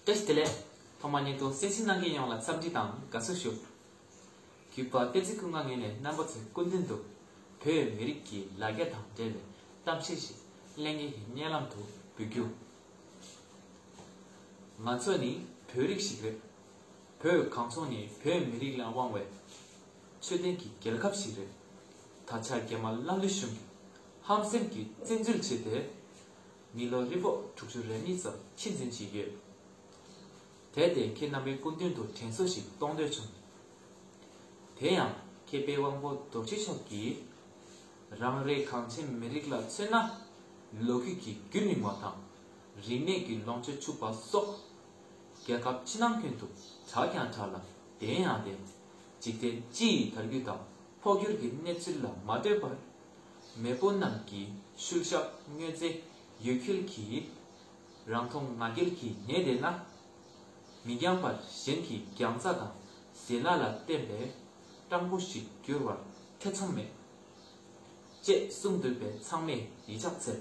ཨེ་ཤི་ཏི་ལས། ཐོག་མ་ཉིད་དུ་སེམས་ཅན་སྣང་མཁན་ཡོངས་ལ་འཚམས་འདྲི་དང་དགའ་བསུ་ཞུ། གུས་པ་བསྟན་འཛིན་ཀུན་དགའ་ངེད་ནས་རྣམ་པ་ཚོའི་སྐུ་མདུན་དུ། བོད་མི་རིགས་ཀྱི་ལ་རྒྱ་དང་འབྲེལ་བའི་གཏམ་བཤད་ཞིག་གླེང་མཁན་གྱི་སྙན་ལམ་དུ་འབུལ་རྒྱུ། ང་ཚོ་ནི་བོད་རིགས་ཤིག་རེད། བོད་གངས་ལྗོངས་ནི་བོད་མི་རིགས་ལ་དབང་བའི་ཆོས་ལྡན་གྱི་རྒྱལ་ཁབ་ཞིག་རེད། ད་ཆ་རྒྱ་དམར་ལྷ་ཀླུ་གཞུང་གིས་ཧམ་སེམས་ཀྱིས་བཙན་འཛུལ་བྱས་ཏེ། མི་ལོ་རེ་ཕོག་དྲུག་ཅུ་རེ་གཉིས་ཙམ་ཕྱི་འཛིན་བྱས་ཡོད། དེར་བརྟེན་ཁྱེད་རྣམ་པའི་སྐུ་མདུན་དུ་དྲན་གསོ་ཞིག་གཏོང་འདོད་བྱུང། དེ་ཡང་མཁས་པའི་དབང་པོ་རྡོ་རྗེ་མཆོག་གིས། རང་རེའི་གངས་ཅན་མི་རིགས་ལ་མཚོན་ན། ལོ་རྒྱུས་ཀྱི་རྒྱུན་རིང་བ་དང། རིག་གནས་ཀྱི་ལོངས་སྤྱོད་ཕྱུག་པ་སོགས་རྒྱལ་ཁབ་ཕྱི་ནང་ཁྱོན་དུ་གྲགས་ཀྱང་གྲགས་ལ་བདེན་ཡང་བདེན། འཇིག་རྟེན་སྤྱི་ཡི་དར་རྒུད་དང་འཕོ་འགྱུར་གྱི་གནས་ཚུལ་ལ་མ་ལྟོས་པར། མེས་པོ་རྣམས་ཀྱི་ཤུལ་བཞག་མྱོས་རྫས་ཡུལ་འཁྱིལ་གྱིས། རང་མཐོང་ང་རྒྱལ་གྱིས་ཉེས་བསྡད་ན། མི་འགྱངས་པར་གཞན་གྱི་རྒྱང་རྩ་དང་ཟས་སྣ་ལ་བརྟེན་པའི་སྤྲང་པོ་ཞིག་འགྱུར་བར་ཐེ་ཚོམ་མེད། ཅེས་གསུངས་འདུག་པས་ཚང་མས་ཡིད་ཕྱག་འཚལ།